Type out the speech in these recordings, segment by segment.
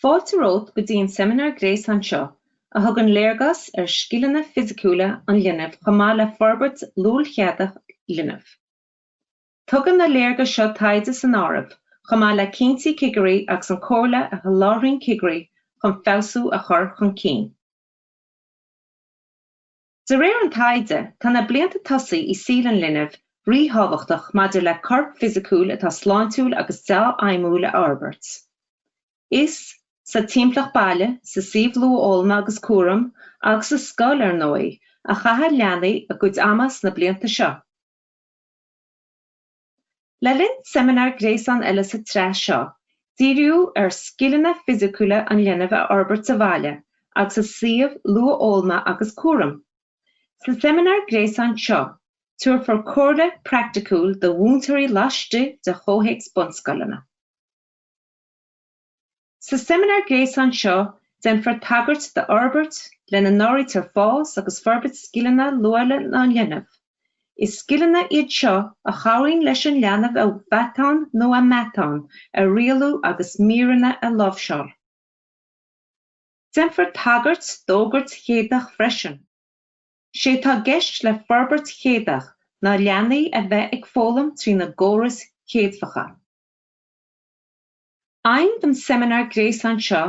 Fáilte romhat go dtí an seimineár gréasáin seo a thugann léargas ar scileanna fisiciúla an linbh chomh maith le forbairt luailchéadfach linbh. Tugann na léargais seo taighde san áireamh, chomh maith le cinntí cigirí agus an comhairle a sholáthraíonn cigirí chun feabhsú a chur chun cinn. De réir an taighde, tá na blianta tosaigh i saol an linbh ríthábhachtach maidir le corp fisiciúil atá sláintiúil agus deá-fheidhmiúil a fhorbairt. Is sa timpeallacht baile, sa suíomh luathfhoghlama agus cúraim, agus sa scoil, ar ndóigh, a chaitheann leanaí a gcuid ama sna blianta seo. Le linn seimineár gréasáin eile sa tsraith seo, díríodh ar scileanna fisiciúla an linbh a fhorbairt sa bhaile agus i suíomh luathfhoghlama agus cúraim. Sa seimineár gréasáin seo, tabharfar comhairle phraiticiúil do mhúinteoirí laistigh de chomhthéacs bunscoileanna. Sa seimineár gréasáin seo, déanfar tagairt d'fhorbairt, lena n-áirítear fás agus forbairt scileanna luaile an linbh. Is scileanna iad seo a chabhraíonn leis an leanbh a mheatáin nó a meatáin a rialú agus míreanna a láimhseáil. Déanfar tagairt d'fhorbairt chéadfach freisin. Sé atá i gceist le forbairt chéadfach ná leanaí a bheith ag foghlaim trína gcórais chéadfacha. Aidhm don seimineár gréasáin seo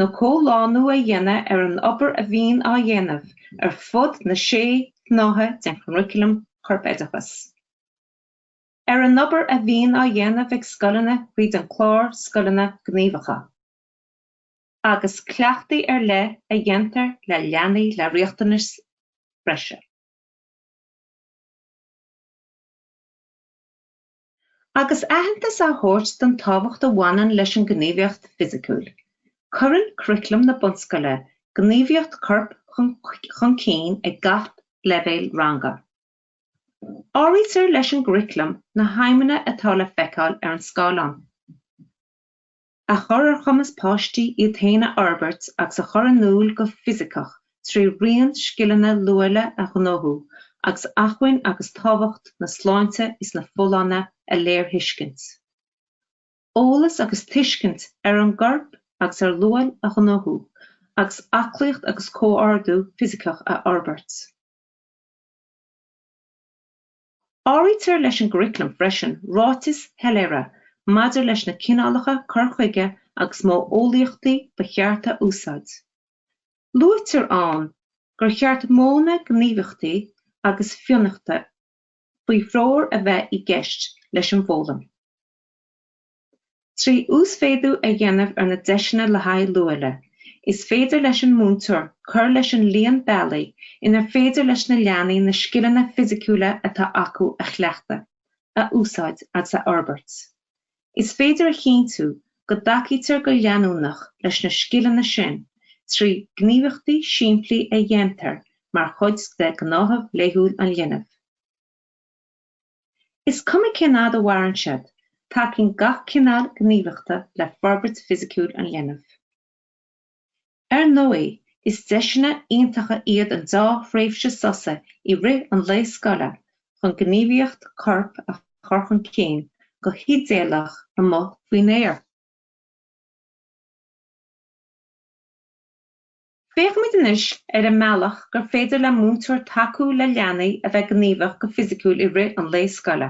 ná comhlánú a dhéanamh ar an obair a bhíonn á dhéanamh ar fud na sé shnáithe den churaclam CorpOideachas. ar an obair a bhíonn á dhéanamh ag scoileanna tríd an clár Scoileanna Gníomhacha. agus cleachtaí ar leith a dhéantar le leanaí le riachtanais bhreise. agus aitheantas a thabhairt don tábhacht a bhaineann leis an ngníomhaíocht fisiciúil. Cuireann curaclam na bunscoile gníomhaíocht coirp chun cinn ag gach leibhéal ranga. Áirítear leis an gcuraclam na haidhmeanna atá le feiceáil ar an scáileán. a chur ar chumas páistí iad féin a fhorbairt agus a chur in iúl go fisiceach trí raon scileanna luaile a ghnóthú agus acmhainn agus tábhacht na sláinte is na folláine a léirthuiscint, eolas agus tuiscint ar an gcorp agus ar luail a ghnóthú, agus aclaíocht agus comhordú fisiceach a fhorbairt. Áirítear leis an gcuraclam freisin ráitis shoiléire maidir leis na cineálacha cuir chuige agus modheolaíochtaí ba cheart a úsáid. Luaitear ann gur cheart modhanna gníomhaíochta agus fionnachta faoi threoir a bheith i gceist leis an bhfoghlaim. Trí uasmhéadú a dhéanamh ar na deiseanna le haghaidh luaile, is féidir leis an múinteoir cur leis an líon bealaí inar féidir leis na leanaí na scileanna fisiciúla atá acu a chleachtadh, a úsáid agus a fhorbairt. Is féidir a chinntiú go dtacaítear go leanúnach leis na scileanna sin trí ghníomhaíochtaí simplí a dhéantar mar chuid de ghnáthamh laethúil an linbh. Is cuma cén fhad a mhaireann siad, tacaíonn gach cineál gníomhaíochta le forbairt fisiciúil an linbh. Ar ndóigh, is deiseanna iontacha iad an dá thréimhse sosa i rith an lae scoile chun gníomhaíocht coirp a chur chun cinn go hidéalach amuigh faoin aer. Féachfaimid anois ar an mbealach gur féidir le múinteoir tacú le leanaí a bheith gníomhach go fisiciúil i rith an lae scoile.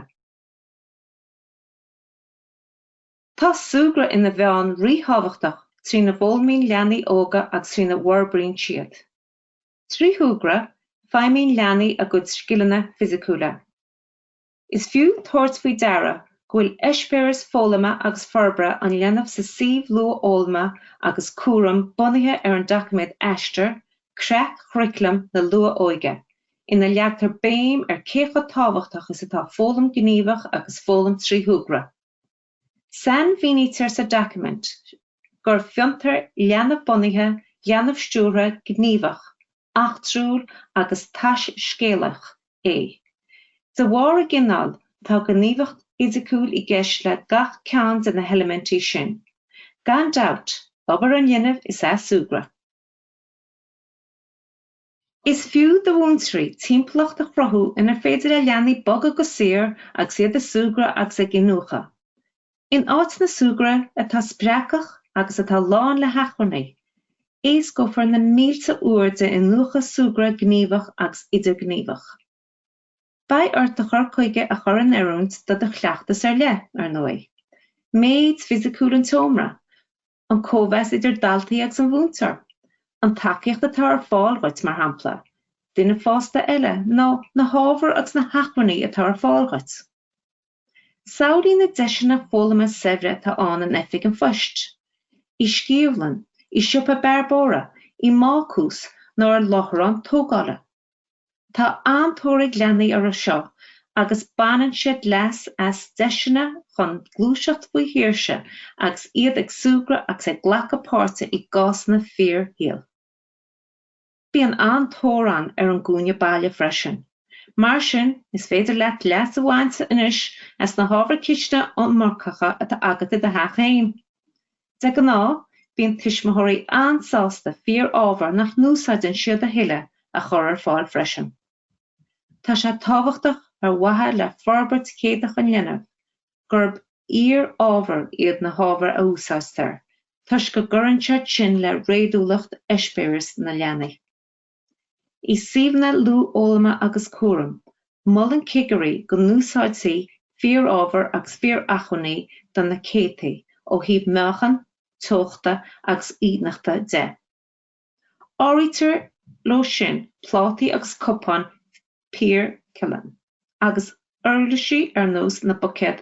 Tá súgradh ina mheán ríthábhachtach trína bhfoghlaimíonn leanaí óga agus trína bhforbraíonn siad. Trí shúgradh, feidhmíonn leanaí a gcuid scileanna fisiciúla. Is fiú tabhairt faoi deara go bhfuil eispéiris foghlama agus forbartha an linbh sa suíomh luathfhoghlama agus cúraim bunaithe ar an doiciméad Aistear, Creat Churaclam na Luath-Óige, ina leagtar béim ar cé chomh tábhachtach is atá foghlaim ghníomhach agus foghlaim trí shúgradh. Sainmhínítear sa doiciméad gur fiontar leanbh-bunaithe, leanbh-stiúrtha, gníomhach, eachtrúil agus taiscéalach é. De bharr a gcineáil, tá gníomhaíocht fhisiciúil i gceist le gach ceann de na heilimintí sin. Gan dabht, obair an linbh is ea súgradh. Is fiú do mhúinteoirí timpeallacht a chruthú inar féidir le leanaí bogadh go saor agus iad ag súgradh agus ag iniúchadh. In áiteanna súgartha atá spreagthach agus atá lán le hachmhainní, éascófar na mílte uair d'iniúchadh, súgradh gníomhach agus idirghníomhach. Beidh ort do chur chuige a chur in oiriúint do do chleachtas ar leith, ar ndóigh. Méid fisiciúil an tseomra, an cóimheas idir daltaí agus an múinteoir, an tacaíocht atá ar fáil dhuit, mar shampla, duine fásta eile nó na hábhair agus na hacmhainní atá ar fáil dhuit. Samhlaigh na deiseanna foghlama saibhre atá ann in oifig an phoist, i sciamhlann, i siopa bearbóra, i mbácús nó ar láithreán tógála. Tá an-tóir ag leanaí orthu seo agus baineann siad leas as deiseanna chun gluaiseacht faoi shaoirse agus iad ag súgradh agus ag glacadh páirte i gcásanna fíorshaoil. Bíonn an-tóir ann ar an gcúinne baile freisin. Mar sin, is féidir leat leas a bhaint anois as na hábhair chisteanaí iomarcacha atá agat i do theach féin. De ghnáth, bíonn tuismitheoirí an-sásta fíor-ábhar nach n-úsáideann siad a thuilleadh a chur ar fáil freisin. Tá sé tábhachtach ar mhaithe le forbairt chéadach an linbh gurb fhíor-ábhair iad na hábhair a úsáidtear toisc go gcuireann siad sin le réadúlacht eispéireas na leanaí. I suíomhanna luathfhoghlama agus cúraim, molann cigirí go n-úsáidfí fíorábhair agus fíoracmhainní do na céadtaí ó thaobh meáchan, teochta agus uigeachta de. Áirítear leo sin plátaí agus cupáin poircealláin agus uirlisí ar nós na buicéad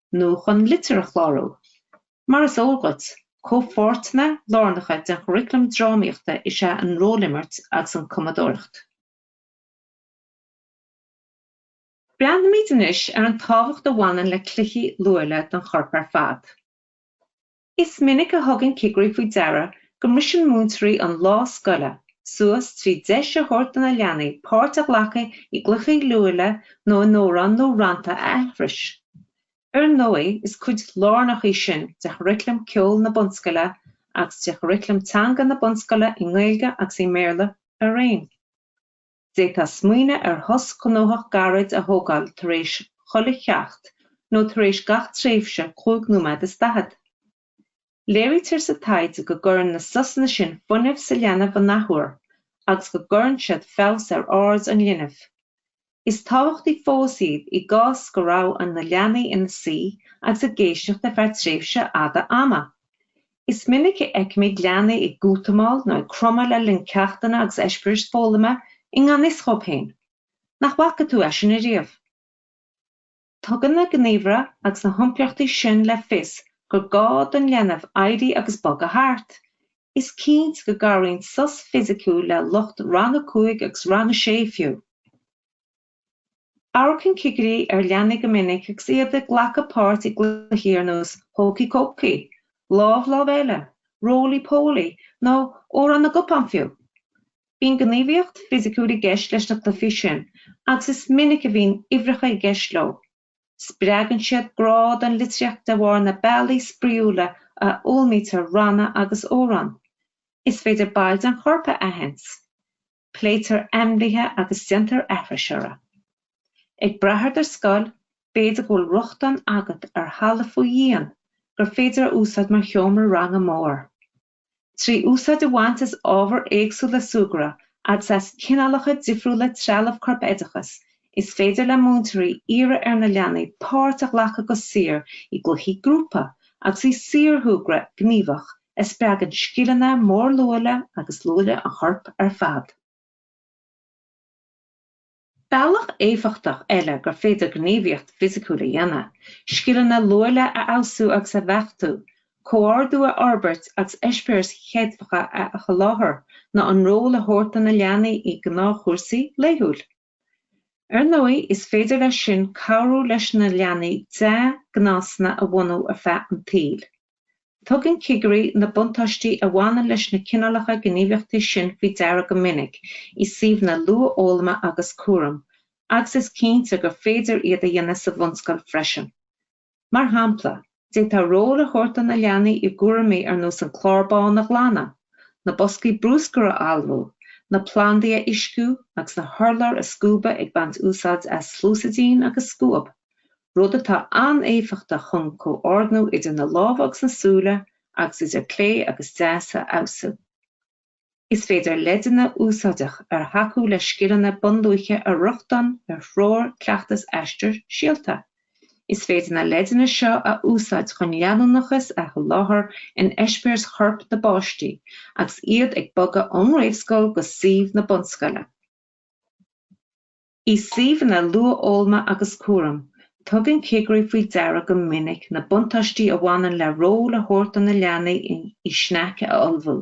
nó chun litir a chlárú. Mar is eol dhuit, comhpháirteanna lárnacha den churaclam drámaíochta is ea an rólimirt agus an chumadóireacht. Breathnóimid anois ar an tábhacht a bhaineann le cluichí luaile don chorp ar fad. Is minic a thugann cigirí faoi deara go mbriseann múinteoirí an lá scoile suas trí deis a thabhairt do na leanaí páirt a ghlacadh i gcluichí luaile nó amhráin nó rannta a aithris. Ar ndóigh, is cuid lárnach í sin de churaclam ceoil na bunscoile agus de churaclam teanga na bunscoile i nGaeilge agus i mBéarla araon. D'fhéadfá smaoineamh ar shos gnóthach gairid a thógáil tar éis chuile cheacht nó tar éis gach tréimhse cúig nóiméad is daichead. Léirítear sa taighde go gcuireann na sosanna sin fuinneamh sa leanbh an athuair agus go gcuireann siad feabhas ar aird an linbh. Is tábhachtaí fós iad i gcás go raibh na leanaí ina suí agus ag éisteacht ar feadh tréimhse fhada ama. Is minic a fheicimid leanaí ag útamáil nó ag cromadh le linn ceachtanna agus eispéiris foghlama i ngan fhios dhóibh féin. Nach bhfaca tú é sin ariamh? Tugann na gníomhartha agus na hiompraíochtaí sin le fios gur gá don leanbh éirí agus bogadh thart. Is cinnte go gcabhraíonn sos fisiciúil le lucht Rang 5 agus Rang 6 fiú. Amharcann cigirí ar leanaí go minic agus iad ag glacadh páirt i gcluichí ar nós Hócaí Cócaí, Lámh, Lámh Eile, Rólaí Pólaí nó Amhrán na gCupán fiú. Bíonn gníomhaíocht fisiciúil i gceist leis na cluichí sin agus is minic a bhíonn uimhreacha i gceist leo. Spreagann siad grá don litríocht de bharr na bealaí spraíúla a fhoghlaimítear ranna agus amhráin. Is féidir baill den chorp a aithint. pléitear ainmhithe agus déantar aithris orthu. Ag brath ar do scoil, b'fhéidir go bhfuil rochtain agat ar halla faoi dhíon gur féidir a úsáid mar sheomra ranga mór. Trí úsáid a bhaint as ábhair éagsúla súgartha agus as cineálacha difriúla trealaimh corpoideachais, is féidir le múinteoirí iarraidh ar na leanaí páirt a ghlacadh go saor i gcluichí grúpa agus i saorshúgradh gníomhach a spreagann scileanna mórluaile agus luaile an choirp ar fad. Bealach éifeachtach eile gur féidir gníomhaíocht fisiciúil a dhéanamh, scileanna luaile a fheabhsú agus a bheachtú, comhordú a fhorbairt agus eispéiris chéadfacha a sholáthar ná ról a thabhairt do na leanaí i ngnáthchúrsaí laethúil. Ar ndóigh is féidir leis sin cabhrú leis na leanaí dea-ghnásanna a bhunú ar feadh an tsaoil. Tugann cigirí na buntáistí a bhaineann leis na cineálacha gníomhaíochtaí sin faoi deara go minic i suíomhanna luathfhoghlama agus cúraim agus is cinnte gur féidir iad a dhéanamh sa bhunscoil freisin. Mar shampla, d'fhéadfá ról a thabhairt do na leanaí i gcúraimí ar nós an clár bán a ghlanadh, na boscaí brúscair a fholmhú, na plandaí a uisciú agus na hurláir a scuabadh ag baint úsáid as sluasaidín agus scuab, rud atá an-éifeachtach chun comhordnú idir na lámha agus na súile agus idir clé agus deas a fheabhsú. Is féidir leideanna úsáideach ar thacú le scileanna bunluaile a rochtain ar Threoir Chleachtais Aistear Síolta. Is féidir na leideanna seo a úsáid chun leanúnachas a sholáthar in eispéiris choirp na bpáistí agus iad ag bogadh ón réamhscoil go suíomh na bunscoile. I suíomhanna luathfhoghlama agus cúraim, tugann cigirí faoi deara go minic na buntáistí a bhaineann le ról a thabhairt do na leanaí i sneaic a ullmhú.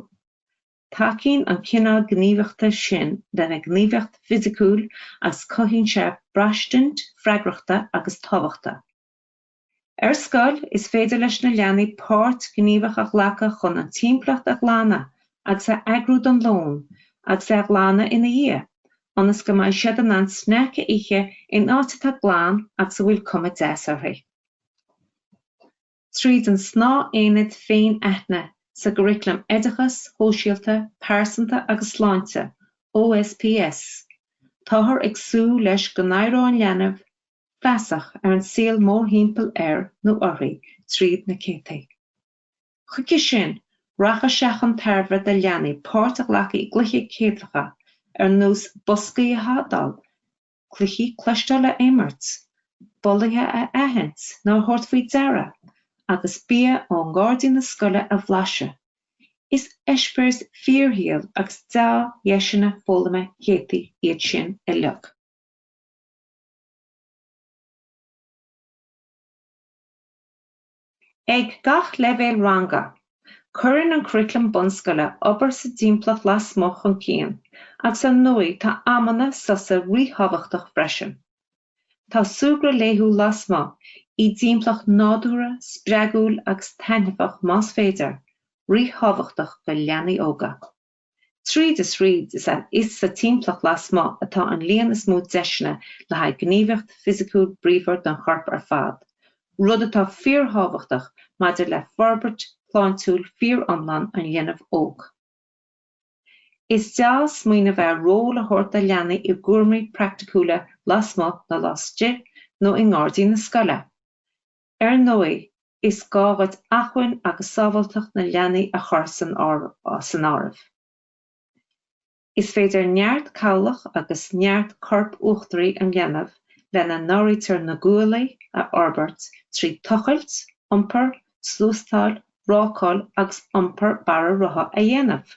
Tacaíonn an cineál gníomhaíochta sin lena ngníomhaíocht fisiciúil agus cothaíonn sé braistint freagrachta agus tábhachta. Ar scoil, is féidir leis na leanaí páirt ghníomhach a ghlacadh chun an timpeallacht a ghlanadh agus a eagrú don lón agus é a ghlanadh ina dhiaidh, ionas go mbeidh siad in ann sneaic a ithe in áit atá glan agus a bhfuil cuma dheas uirthi. Tríd an snáith-aonad Féin-Aithne sa gcuriclam Oideachais Shóisialta, Pearsanta agus Sláinte, OSPS, táthar ag súil leis go n-éireoidh an leanbh feasach ar an saol mórthimpeall air nó uirthi tríd na céadfaí. Chuige sin, rachadh sé chun tairbhe do leanaí páirt a ghlacadh i gcluichí céadfacha ar nós boscaí a thadhall, cluichí cloisteála a imirt, bolaithe a aithint nó a thabhairt faoi deara, agus bia ó ghairdín na scoile a bhlaiseadh. Is eispéiris fíorshaoil agus deá-dheiseanna foghlama céadfaí iad sin uilig. Ag gach leibhéal ranga, cuireann an curaclam bunscoile obair sa dtimpeallacht lasmuigh chun cinn agus ar ndóigh tá amanna sosa ríthábhachtach freisin. Tá súgradh laethúil lasmuigh, i dtimpeallacht nádúrtha, spreagúil agus taitneamhach más féidir, ríthábhachtach do leanaí óga. Tríd is thríd, is ann is sa timpeallacht lasmuigh atá an líon is mó deiseanna le haghaidh gníomhaíocht fisiciúil bríomhar don chorp ar fad, rud atá fíorthábhachtach maidir le forbairt shláintiúil fíoriomlán an linbh óg. Is dea-smaoineamh é ról a thabhairt do leanaí i gcúraimí praiticiúla lasmuigh nó laistigh nó i ngairdín na scoile. Ar ndóigh, is gá dhuit acmhainn agus sábháilteacht na leanaí a chur san áireamh. Is féidir neart cabhlach agus neart coirp uachtaraigh an linbh, lena n-áirítear na guaillí, a fhorbairt trí tochailt, iompar, sluasteáil, rácáil agus iompar bara rotha a dhéanamh.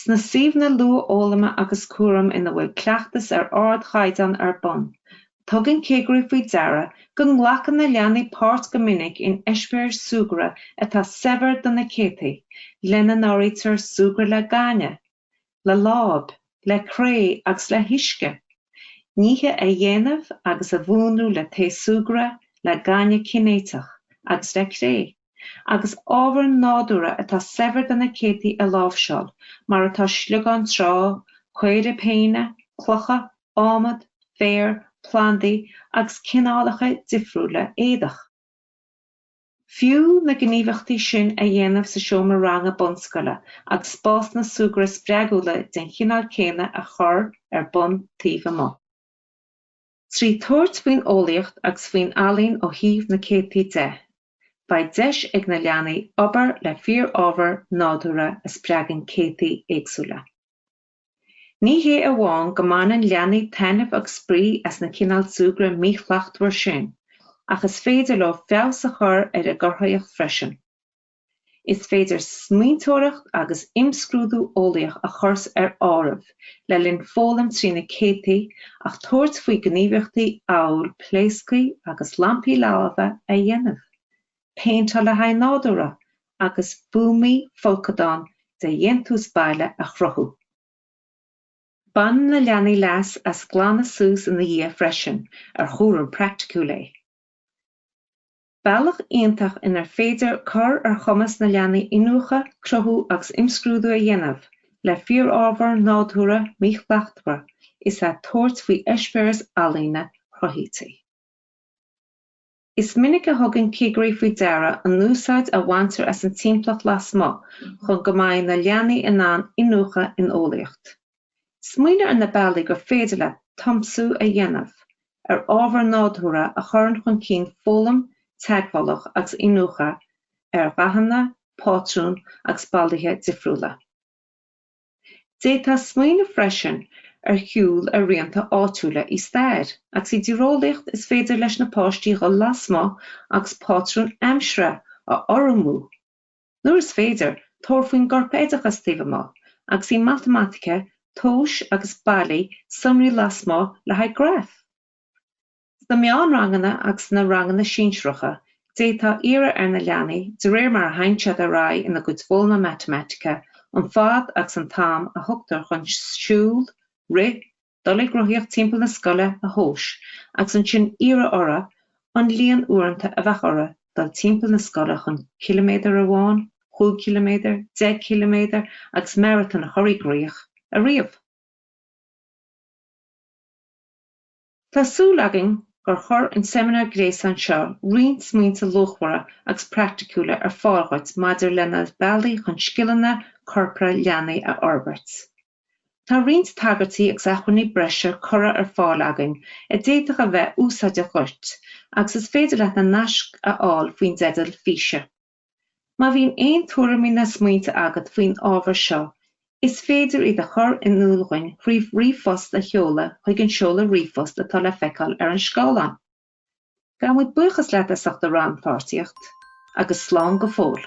Sna suíomhanna luathfhoghlama agus cúraim ina bhfuil cleachtas ar ardchaighdeán ar bun, tugann cigirí faoi deara go nglacann na leanaí páirt go minic in eispéiris súgartha atá saibhir do na céadfaí, lena n-áirítear súgradh le gaineamh, le láib, le cré agus le huisce, nithe a dhéanamh agus a mhúnlú le taos súgartha, le gaineamh cinéiteach agus le cré. agus ábhar nádúrtha atá saibhir do na céadfaí a láimhseáil, mar atá sliogáin trá, caora péine, clocha, adhmad, féar, plandaí agus cineálacha difriúla éadach. Is fiú na gníomhaíochtaí sin a dhéanamh sa seomra ranga bunscoile agus spásanna súgartha spreagúla den chineál céanna a chur ar bun taobh amuigh. Trí tabhairt faoin eolaíocht agus faoin ealaín ó thaobh na céadfaí de, Beidh deis ag na leanaí obair le fíorábhar nádúrtha a spreagann céadfaí éagsúla. Ní hé amháin go mbaineann leanaí taitneamh agus spraoi as na cineál súgradh míshlachtmhar sin ach is féidir leo feabhas a chur ar a gcruthaíocht freisin. Is féidir smaointeoireacht agus imscrúdú eolaíoch a chur ar áireamh le linn foghlaim trí na céadfaí ach tabhairt faoi ghníomhaíochtaí amhail pléascthaí agus lampaí laibhe a dhéanamh, péinteáil le hábhair nádúrtha, agus buamaí folcadán de dhéantús baile a chruthú. Baineann na leanaí leas as glanadh suas ina dhiaidh freisin, ar chúram praiticiúil é. Bealach iontach inar féidir cur ar chumas na leanaí iniúchadh, cruthú agus imscrúdú a dhéanamh le fíorábhar nádúrtha míshlachtmhar is ea tabhairt faoi eispéiris ealaíne chruthaithí. Is minic a thugann cigirí faoi deara an úsáid a bhaintear as an timpeallacht lasmuigh chun go mbeidh na leanaí in ann iniúchadh in eolaíocht, Smaoinigh ar na bealaí gur féidir leat tiomsú a dhéanamh ar ábhar nádúrtha a chuireann chun cinn foghlaim teagmhálach agus iniúchadh ar dhathanna, pátrúin agus bolaithe difriúla. D'fhéadfá smaoineamh freisin ar shiúl ar rianta áitiúla i stair agus i dtíreolaíocht is féidir leis na páistí dhul lasmuigh agus pátrúin aimsire a urramú, Nuair is féidir, tabhair faoin gcorpoideachas taobh amuigh, agus i matamaitice, tomhais agus bailigh sonraí lasmuigh le haghaidh graif. Sna meánranganna agus sna ranganna sinsearacha, d'fhéadfá iarraidh ar na leanaí, de réir mar a théann siad ar aghaidh ina gcuid foghlama matamaitice, an fad agus an t-am a thugtar chun siúl, rith, dul ag rothaíocht timpeall na scoile a thomhas agus ansin iarradh orthu an líon uaireanta a bheadh orthu dul timpeall na scoile chun ciliméadar amháin, chúig chiliméadar, deich gciliméadar agus Maratón a chur i gcrích a ríomh. Tá súil againn gur chuir an seimineár gréasáin seo roinnt smaointe luachmhara agus praiticiúla ar fáil dhuit maidir le na bealaí chun scileanna corpartha leanaí a fhorbairt. Tá roinnt tagairtí agus acmhainní breise curtha ar fáil againn a d'fhéadfadh a bheith úsáideach dhuit agus is féidir leat na naisc a fháil faoin dteideal físe. Má bhíonn aon tuairimí ná smaointe agat faoin ábhar seo, is féidir iad a chur in iúl dhúinn thrí ríomhphost a sheoladh chuig an seoladh ríomhphost atá le feiceáil ar an scáileán. Gabhaimid buíochas leat as ucht do rannpháirtíocht agus slán go fóill.